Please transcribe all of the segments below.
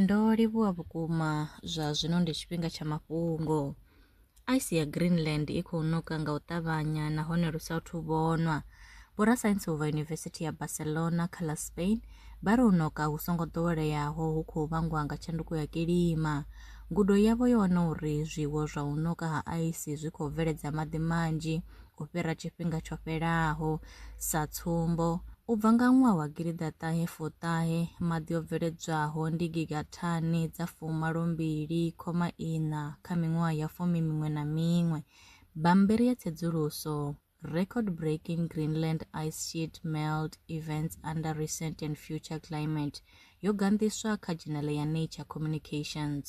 Ndo livhuwa vhukuma zwa zwino ndi tshifhinga tsha mafhungo. Ice ya Greenland i khou ṋoka nga u ṱavhanya nahone lu sa athu vhonwa. Vhorasaintsi u bva Yunivesithi ya Barcelona kha ḽa Spain vha ri u ṋoka hu songo ḓoweleaho hu khou vhangwa nga tshanduko ya kilima. Ngudo yavho yo wana uri zwiwo zwa u ṋoka ha ice zwi khou bveledza maḓi manzhi u fhira tshifhinga tsho fhelaho Sa tsumbo, u bva nga ṅwaha wa gidiḓaṱahe fuṱahe, maḓi o bveledzwaho ndi gigathani dza fumalo mbili khoma iṋa kha miṅwaha ya fumi miṅwe na miṅwe. Bammbiri ya tsedzuluso, Record Breaking Greenland Ice Sheet Melt Events Under Recent and Future Climate, yo ganḓiswa kha dzhenele ya Nature Communications.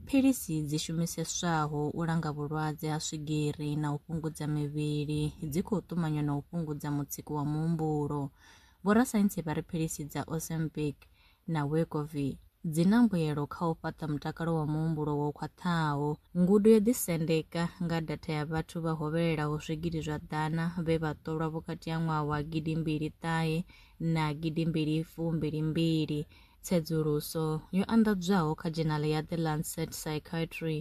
Philisi dzi shumiseswaho u langa vhulwadze ha swigiri na u fhungudza mivhili dzi khou ṱumanywa na u fhungudza mutsiko wa muhumbulo. Vhorasaintsi vha ri philisi dza Ozempic na Wegovy dzi na mbuelo kha u fhaṱa mutakalo wa muhumbulo wo khwaṱhaho. Ngudo yo ḓisendeka nga datha ya vhathu vha hovhelelaho zwigidi zwa ḓana vhe vha ṱolwa vhukati ha ṅwaha wa gidi mbili ṱahe na gidi mbili fumbili mbili. Tsedzuluso yo anḓadzwaho kha dzhenale ya The Lancet Psychiatry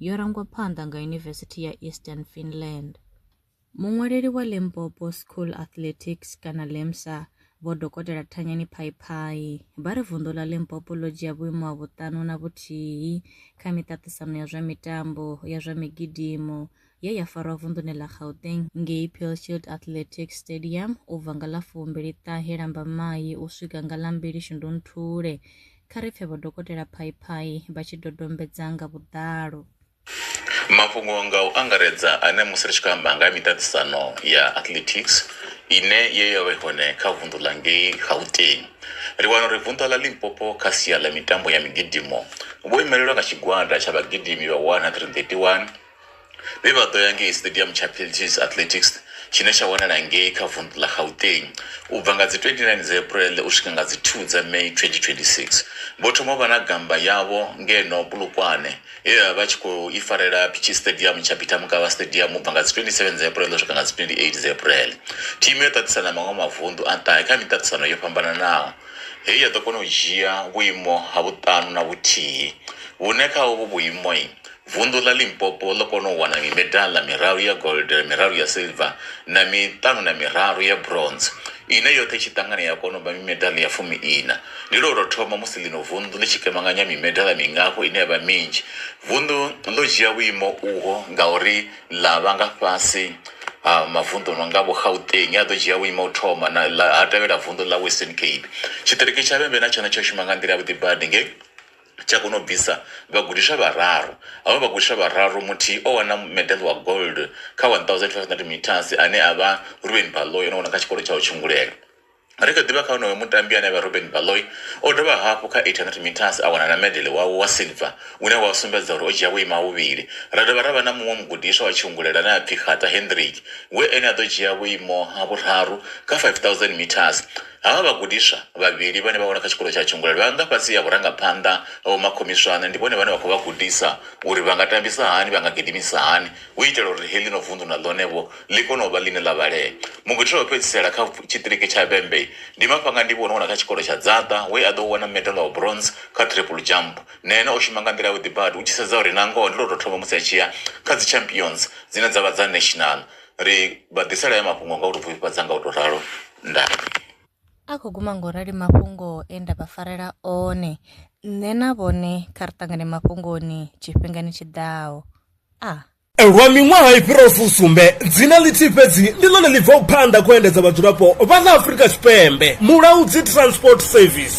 yo rangwa phanḓa nga Yunivesithi ya Eastern Finland. Muṅwaleli wa Limpopo School Athletics kana LIMSA, Vho Dokotela Thanyani Phaiphai, vha ri vunḓu ḽa Limpopo ḽo dzhia vhuimo ha vhuṱanu na vhuthihi kha miṱaṱisano ya zwa mitambo ya zwa migidimo ye ya farwa vunḓuni ḽa Gauteng ngei Pearshield Athletics Stadium u bva nga ḽa fumbili ṱahe Lambamai u swika nga ḽa mbili Shundunthule. Kha ri pfe Vho Dokotela Phaiphai vha tshi dodombedza nga vhuḓalo. Mafhungo nga u angaredza ane musi ri tshi khou amba nga ha miṱaṱisano ya athletics ine ye ya vha i hone kha vunḓu ḽa ngei Gauteng, ri wana uri vunḓa ḽa Limpopo kha sia ḽa mitambo ya migidimo vho imelelwa nga tshigwada tsha vhagidimi vha 131 vhe vha ḓo ya ngei stadium tsha Peltis Athletics tshine tsha wanala ngei kha vundu ḽa Gauteng u bva nga dzi 29 dza April u swika nga dzi 2 dza May 2026. Vho thoma vha na gamba yavho ngeno Polokwane ye vha vha tshi khou i farela Pitshi Stadium tsha Peter Mokaba Stadium u bva nga dzi 27 dza April u swika nga dzi 28 dza April. Thimu yo ṱaṱisana maṅwe mavundu a ṱahe kha miṱaṱisano yo fhambananaho heyi ya ḓo kona u dzhia vhuimo ha vhuṱanu na vhuthihi vhune kha uvhu vhuimo Vunḓu ḽa Limpopo ḽo kona u wana mimedaḽa miraru ya gold, miraru ya silver na miṱanu na miraru ya bronze ine yoṱhe i tshi ṱangana ya kona u vha mimedaḽa ya fumi-iṋa. Ndi lwo tou thoma musi ḽino vunḓu ḽi tshi kemanganya mimedaḽa mingafho ine ya vha minzhi. Vunḓu ḽo dzhia vhuimo uho ngauri ḽa vha nga fhasi ha mavunḓu a no nga Vho-Gauteng a ḓo dzhia vhuimo ha u thoma na ha tevhela vunḓu ḽa Western Cape. Tshiṱiriki tsha Vhembe na tshone tsho shuma nga nḓila yavhuḓi badi nge. tsha kona u bvisa vhagudiswa vhararu. Havho vhagudiswa vhararu muthihi o wana medal wa gold kha 1500 meters ane a vha Ruben Baloyi o no wana kha tshikolo tsha u tshungulelwa. Ri kha ḓivha kha onoyo mutambi ane a vha Ruben Baloyi o dovha hafhu kha 800 meters a wana na medal wawe wa silver une wa sumbedza uri o dzhia vhuimo ha vhuvhili. Ra dovha ra vha na muṅwe mugudiswa wa tshungulelwa ane a pfi Kgata Hendrik we ene a ḓo dzhia vhuimo ha vhuraru kha 5000 meters. Havha vhagudiswa vhavhili vhane vha wela kha tshikolo tsha Tshungulelo vha nga fhasi ha vhurangaphanḓa ha vhomakhomiswane. Ndi vhone vhane vha khou vha gudisa uri vha nga tambisa hani, vha nga gidimisa hani u itela uri heḽino vunḓu na ḽone-vho ḽi kone u vha ḽine ḽa vhalea. Mugudiswa wa u fhedzisela kha tshiṱiriki tsha Vhembe ndi Mafhangandivhi wo no wela kha tshikolo tsha Dzaṱa we a ḓo wana medala wa bronze kha triple jump. Na ene o shuma nga nḓila yavhuḓi badi, u tshi sedza uri nangoho ndi lwo tou thoma musi a tshi ya kha dzi Champions dzine dza vha dza National. Ri vha ḓisela haya mafhungo nga u tou pfufhifhadza nga u tou ralo. Ndaa. A khou guma ngo rali mafhungo e nda vha farela one. Nṋe na vhone kha ri ṱangane mafhungoni tshifhingani tshi ḓaho. A. Lwa miṅwaha i fhiraho fusumbe, dzina ḽithihi fhedzi ndi ḽone ḽi bvaho phanḓa khou endedza vhadzulapo vha ḽa Afrika Tshipembe, Mulaudzi Transport Service.